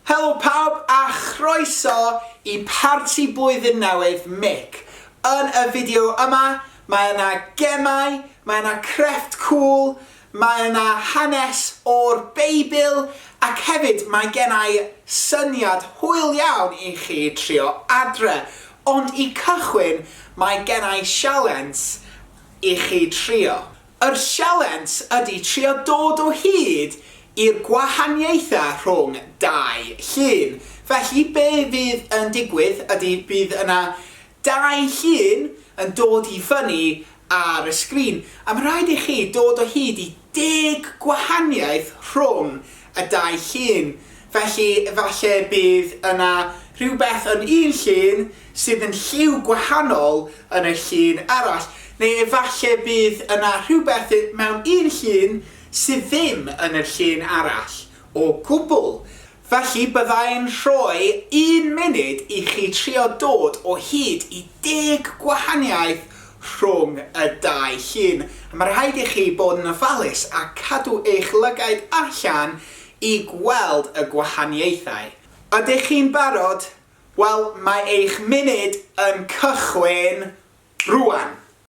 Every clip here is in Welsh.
Helo pawb a chroeso i parti blwyddyn newydd Mick. Yn y fideo yma, mae yna gemau, mae yna crefft cŵl, Mae yna hanes o'r Beibl ac hefyd mae gennai syniad hwyl iawn i chi trio adre, ond i cychwyn mae gennai sialens i chi trio. Yr sialens ydi trio dod o hyd i'r gwahaniaetha rhwng dau llun. Felly be fydd yn digwydd ydi bydd yna Dau llun yn dod i fyny ar y sgrin, a mae'n rhaid i chi dod o hyd i deg gwahaniaeth rhwng y dau llun, felly efallai bydd yna rhywbeth yn un llun sydd yn lliw gwahanol yn y llun arall, neu efallai bydd yna rhywbeth mewn un llun sydd ddim yn y llun arall o gwbl. Felly bydda i'n rhoi un munud i chi trio dod o hyd i deg gwahaniaeth rhwng y dau llun. A mae rhaid i chi bod yn ofalus a cadw eich lygaid allan i gweld y gwahaniaethau. Ydych chi'n barod? Wel, mae eich munud yn cychwyn rŵan!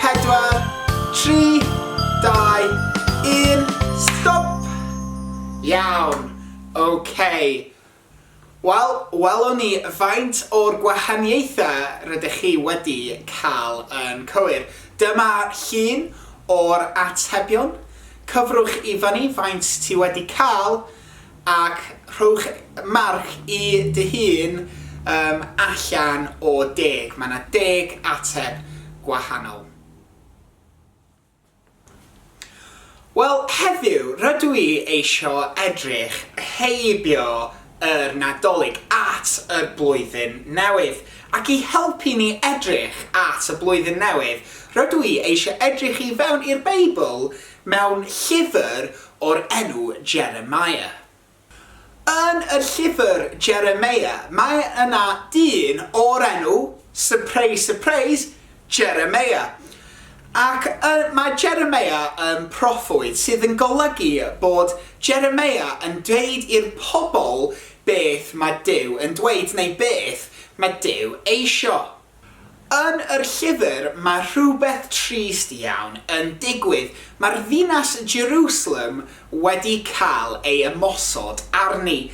4, 3, 2, 1, stop! Iawn, ok. Wel, welwn ni faint o'r gwahaniaethau rydych chi wedi cael yn cywir. Dyma llun o'r atebion. Cyfrwch i fyny faint ti wedi cael. Ac rhowch marc i dy hun um, allan o deg. Mae 'na deg ateb gwahanol. Wel, heddiw, rydw i eisiau edrych heibio yr Nadolig at y Blwyddyn Newydd. Ac i helpu ni edrych at y Blwyddyn Newydd, rydw i eisiau edrych i fewn i'r Beibl Mewn llyfr o'r enw Jeremiah. Yn y llyfr Jeremiah, mae yna dyn o'r enw, surprise surprise, Jeremiah. Ac mae Jeremiah yn proffwyd, sydd yn golygu bod Jeremiah yn dweud i'r pobl beth mae Duw yn dweud neu beth mae Duw eisio. Yn yr llyfr mae rhywbeth trist iawn yn digwydd, mae'r ddinas Jerusalem wedi cael ei ymosod arni.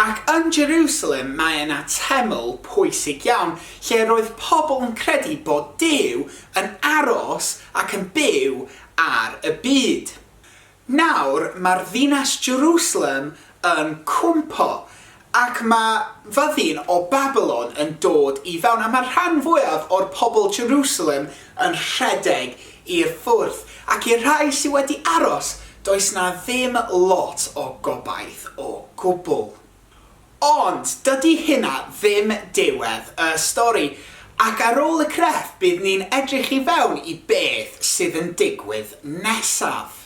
Ac yn Jerusalem mae yna teml pwysig iawn lle roedd pobl yn credu bod Duw yn aros ac yn byw ar y byd. Nawr mae'r ddinas Jerusalem yn cwympo, ac mae fyddin o Babilon yn dod i fewn, a mae'r rhan fwyaf o'r pobl Jerusalem yn rhedeg i'r ffwrdd, ac i'r rhai sydd wedi aros, does 'na ddim lot o gobaith o gwbl. Ond dydy hynna ddim diwedd y stori, ac ar ôl y crefft bydd ni'n edrych i fewn i beth sydd yn digwydd nesaf.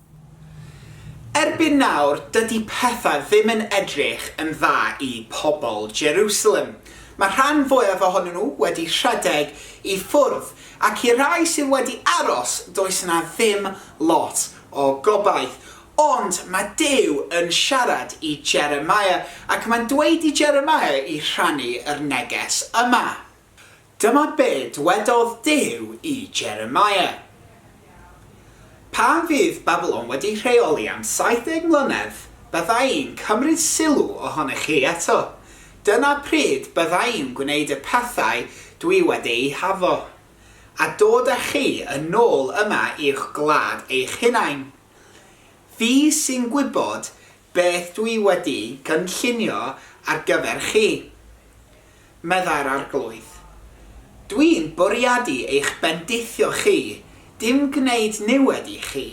Erbyn nawr, dydy pethau ddim yn edrych yn dda i pobl Jeriwsalem. Mae'r rhan fwyaf ohonyn nhw wedi rhedeg i ffwrdd, ac i'r rhai sydd wedi aros, does yna ddim lot o gobaith. Ond mae Duw yn siarad i Jeremiah, ac mae'n dweud i Jeremiah i rhannu yr neges yma. Dyma be dwedodd Duw i Jeremiah, Pan fydd Babilon wedi rheoli am 70 mlynedd, bydda i'n cymryd sylw ohonych chi eto. Dyna pryd bydda i'n gwneud y pethau dwi wedi eu haddo, a dod â chi yn ôl yma i'ch gwlad eich hunain. Fi sy'n gwybod beth dwi wedi gynllunio ar gyfer chi, meddai'r Arglwydd. Dwi'n bwriadu eich bendithio chi, dim gwneud niwed i chi.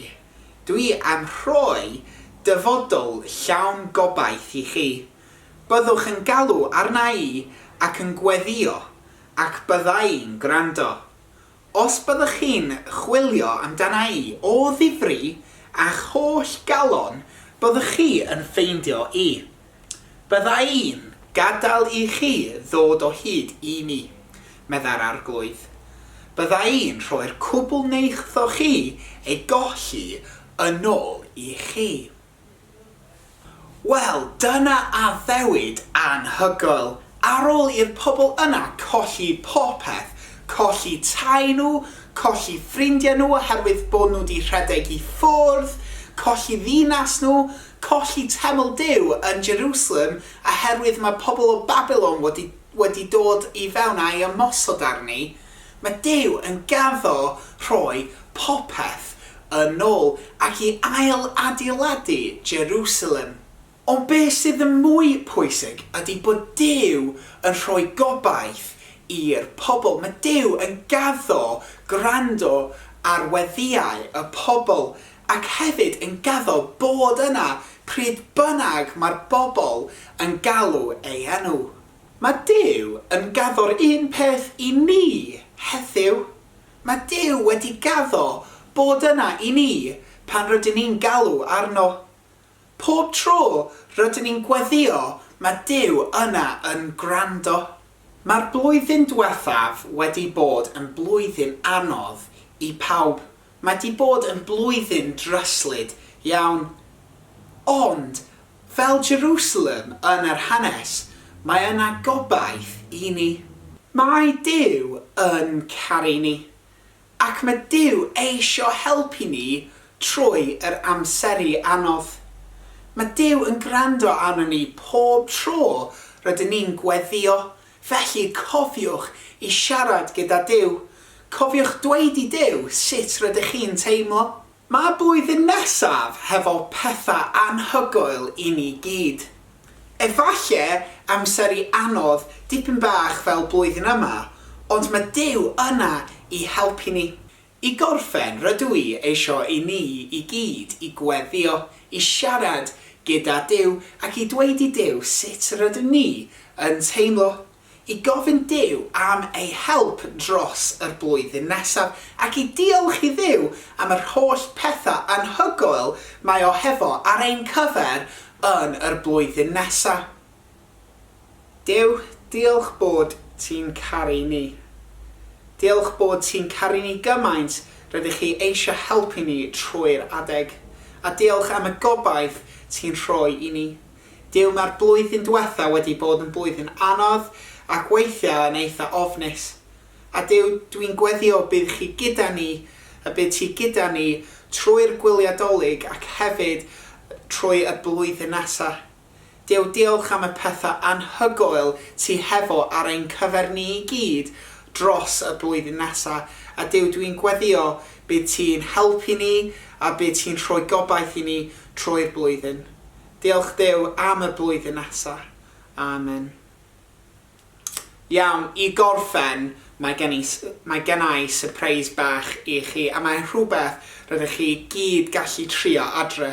Dwi am rhoi dyfodol llawn gobaith i chi. Byddwch yn galw arna i ac yn gweddïo, ac bydda i'n gwrando. Os byddwch chi'n chwilio amdana'i o ddifri a'ch holl galon, byddwch chi yn ffeindio i. Byddai'n gadael i chi ddod o hyd i mi, meddai'r Arglwydd. Byddai'n rhoi'r cwbl neithoch chi ei golli yn ôl i chi. Wel, dyna addewid anhygoel! Ar ôl i'r pobl yna colli popeth, colli tai nhw, colli ffrindiau nhw oherwydd bod nhw 'di rhedeg i ffwrdd, colli ddinas nhw, colli teml Duw yn Jerusalem oherwydd mae pobl o Babilon wedi wedi dod i fewn a'i ymosod arni, Mae Duw yn gaddo rhoi popeth yn ôl ac i ail-adeiladu Jerusalem. Ond be sydd yn mwy pwysig ydy bod Duw yn rhoi gobaith i'r pobl. Mae Duw yn gaddo gwrando ar weddïau y pobl ac hefyd yn gaddo bod yna pryd bynnag mae'r bobl yn galw ei enw. Mae Duw yn gaddo'r un peth i ni heddiw. Mae Duw wedi gaddo bod yna i ni pan rydyn ni'n galw arno. Pob tro rydyn ni'n gweddïo, mae Duw yna yn gwrando. Mae'r blwyddyn diwethaf wedi bod yn blwyddyn anodd i pawb. Mae 'di bod yn blwyddyn dryslyd iawn. Ond Fel Jerusalem yn yr hanes, mae yna gobaith i ni. Mae Duw yn caru ni. Ac mae Duw eisio helpu ni trwy yr amseru anodd. Mae Duw yn gwrando arnon ni pob tro rydyn ni'n gweddïo, felly cofiwch i siarad gyda Duw. Cofiwch dweud i Duw sut rydych chi'n teimlo. Mae blwyddyn nesaf hefo petha anhygoel i ni gyd. Efalle amseru anodd dipyn bach fel blwyddyn yma, ond ma Duw yna i helpu ni. I gorffen, rydw i eisio i ni i gyd i gweddio, i siarad gyda Duw ac i dweud i Duw sut rydyn ni yn teimlo. i gofyn Duw am ei help dros yr blwyddyn nesaf, ac i diolch i Dduw am yr holl pethau anhygoel mae o hefo ar ein cyfer yn yr blwyddyn nesa. Duw, diolch bod ti'n caru ni. Diolch bod ti'n caru ni gymaint, rydych chi eisiau helpu ni trwy'r adeg. A diolch am y gobaith ti'n rhoi i ni. Duw mae'r blwyddyn dwetha wedi bod yn blwyddyn anodd ac weithiau yn eitha ofnus. A Duw dwi'n gweddio bydd chi gyda ni y bydd ti gyda ni trwy'r gwyliau Dolig ac hefyd trwy y blwyddyn nesa. Duw diolch am y pethau anhygoel ti hefo ar ein cyfer ni i gyd dros y blwyddyn nesa a Duw dwi'n gweddio bydd ti'n helpu ni a bydd ti'n rhoi gobaith i ni trwy'r blwyddyn. Diolch Duw am y blwyddyn nesa. Amen. Iawn, i gorffen, mae gen i, mae gen i sypreis bach i chi, a mae'n rhywbeth rydych chi i gyd gallu trio adre.